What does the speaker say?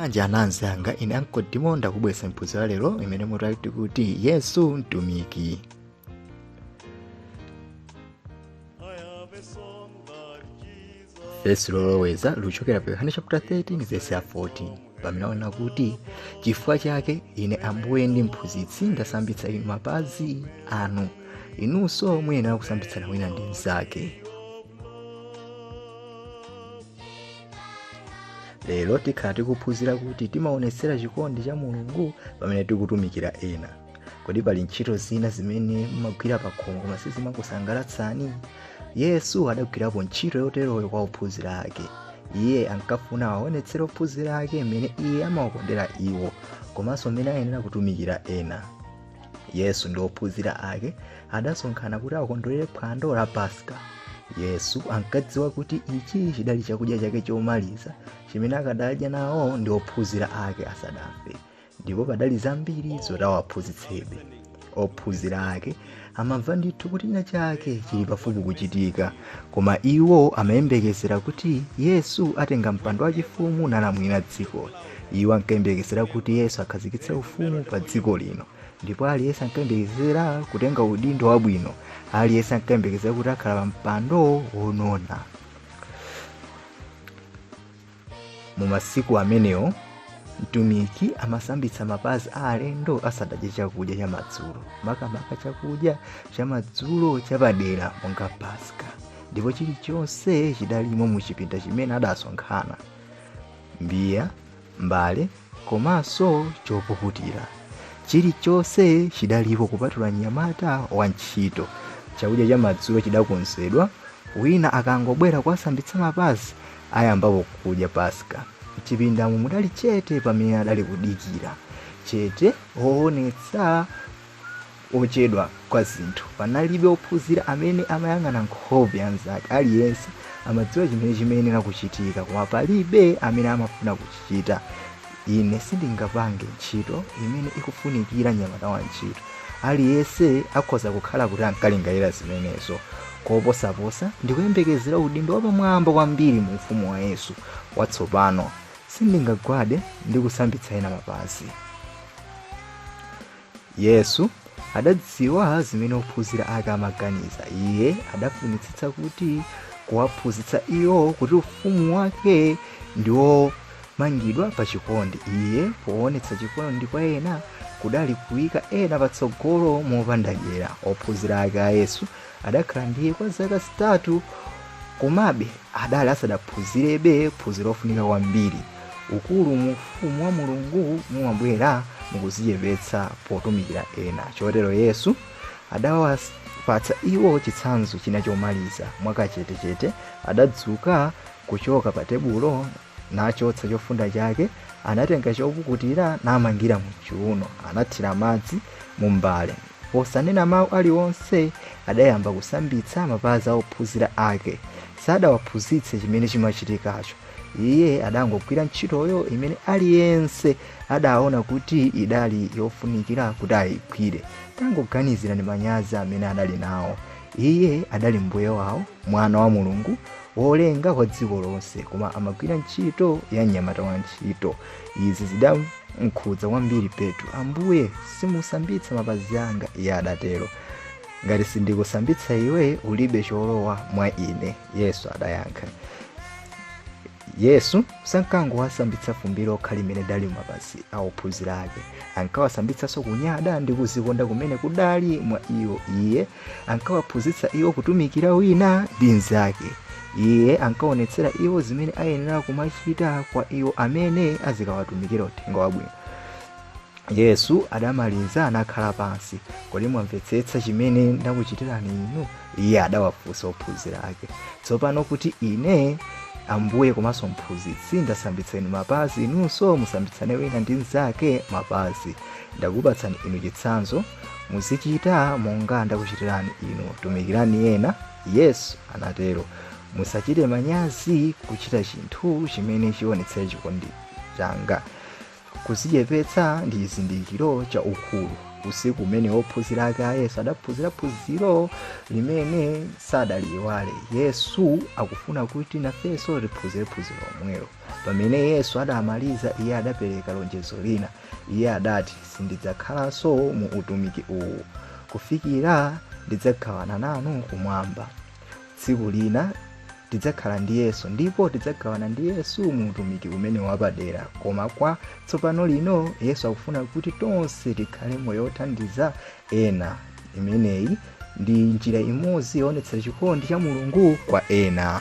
bwanji anzanga ine ankodi mondakubwesa phunziro la lero limene mutu wake uli kuti yesu mtumiki vesi loloweza likuchokera pa yohane chapter 13 vesi ya 14 pamene akunena kuti chifukwa chake ine ambuye ndi mphunzitsi ndasambitsa inu mapazi anu inunso muyenera kusambitsana wina ndi mnzake lero tikhala tikuphunzira kuti timaonetsera chikondi cha mulungu pamene tikutumikira ena kodi pali ntchito zina zimene mumagwira pa khomo koma sizimakusangalatsani yesu adagwirapo ntchito yoteroyo kwa ophunzira ake iye ankafuna awaonetsere ophunzira ake mmene iye amawakondera iwo komanso mmene ayenera kutumikira ena yesu ndi ophunzira ake adasonkhana kuti akondwerere phwando la paska yesu ankadziwa kuti ichi chidali chakudya chake chomaliza chimene akadadya nawo ndi ophunzira ake asadafe ndipo padali zambiri zoti awaphunzitsebe ophunzira ake amamva ndithu kuti china chake chili pafupi kuchitika koma iwo amayembekezera kuti yesu atenga mpando wachifumu nalamulira dziko iwo ankayembekezera kuti yesu akhazikitse ufumu pa dziko lino ndipo aliyense ankayembekezera kutenga udindo wabwino aliyense ankayembekezera kuti akhala pa mpando wonona mu masiku amenewo mtumiki amasambitsa mapazi a alendo asadadye chakudya chamadzulo makamaka chakudya chamadzulo chapadera monga paska ndipo chilichonse chidalimo mu chipinda chimene adasonkhana mbiya mbale komanso chopukutira chilichonse chidalipo kupatula mnyamata wa ntchito chakudya cha madzulo chidakonzedwa wina akangobwera kuwasambitsa mapazi ayambapo kudya paska mchipindamo mudali chete pamene adali kudikira chete woonetsa kuchedwa kwa zinthu. Panalibe ophunzira amene amayang'ana nkhope ya mzake. Aliyense amadziwa chimene chimayenera kuchitika, koma palibe amene amafuna kuchichita. Ine sindingapange ntchito imene ikufunikira mnyamata wa ntchito. Aliyense akhoza kukhala kuti ankalingalira zimenezo. Koposaposa, ndikuyembekezera udindo wapamwamba kwambiri mu ufumu wa Yesu watsopano. Sindingagwade ndi kusambitsa ena mapazi. yesu adadziwa zimene ophunzira ake amaganiza iye adafunitsitsa kuti kuwaphunzitsa iwo kuti ufumu wake ndi womangidwa pa chikondi iye poonetsa chikondi kwa ena kudali kuika ena patsogolo mopanda dyera ophunzira ake a Yesu adakhala ndi iye kwa zaka zitatu komabe adali asadaphunzirebe phunziro lofunika kwambiri ukulu mu ufumu wa mulungu mumabwera mukuzichepetsa potumikira ena chotero yesu adawapatsa iwo chitsanzo china chomaliza mwakachetechete adadzuka kuchoka pa tebulo nachotsa chofunda chake, anatenga chopukutira namangira mchiuno, anathira madzi mumbale. Posanena mawu aliwonse, adayamba kusambitsa mapazi a ophunzira ake. Sadawaphunzitse chimene chimachitikacho. Iye adangogwira ntchitoyo imene aliyense adaona kuti idali yofunikira kuti ayigwire. Tangoganizirani manyazi amene adali nawo. Iye adali Mbuye wawo, Mwana wa Mulungu, wolenga wa dziko lonse koma amagwira ntchito ya mnyamata wa ntchito izi zidamkhudza kwambiri petro ambuye simusambitsa mapazi anga iye adatero ngati sindikusambitsa iwe ulibe cholowa mwa ine yesu adayankha yesu sankangowasambitsa fumbi lokha limene lidali m'mapazi a ophunzira ake ankawasambitsanso kunyada ndi kuzikonda kumene kudali mwa iwo iye ankawaphunzitsa iwo kutumikira wina ndi mnzake. Iye ankaonetsera iwo zimene ayenera kumachita kwa iwo amene azikawatumikira uthenga wabwino. Yesu adamaliza nakhala pansi. Kodi mwamvetsetsa chimene ndakuchitirani inu? Iye adawafunsa ophunzira ake. Tsopano kuti ine Ambuye komanso mphunzitsi ndasambitsa inu mapazi, inunso musambitsane wina ndi mnzake mapazi. Ndakupatsani inu chitsanzo Muzichita monga ndakuchitirani inu, tumikirani ena, Yesu anatero. Musachite manyazi kuchita chinthu chimene chionetsera chikondi changa. Kuzichepetsa ndi chizindikiro cha ukulu. Usiku umene ophunzira ake a Yesu adaphunzira phunziro limene sadaliiwale. Yesu akufuna kuti nafenso tiphunzire phunziro lomwelo. Pamene Yesu adamaliza, iye adapereka lonjezo lina. Iye adati, Sindidzakhalanso mu utumiki uwu kufikira ndidzagawana nanu kumwamba. Tsiku lina tidzakhala ndi Yesu ndipo tidzagawana ndi Yesu mu utumiki umene wapadera. Koma kwa tsopano lino Yesu akufuna kuti tonse tikhale moyo wothandiza ena. Imeneyi ndi njira imodzi yoonetsera chikondi cha Mulungu kwa ena.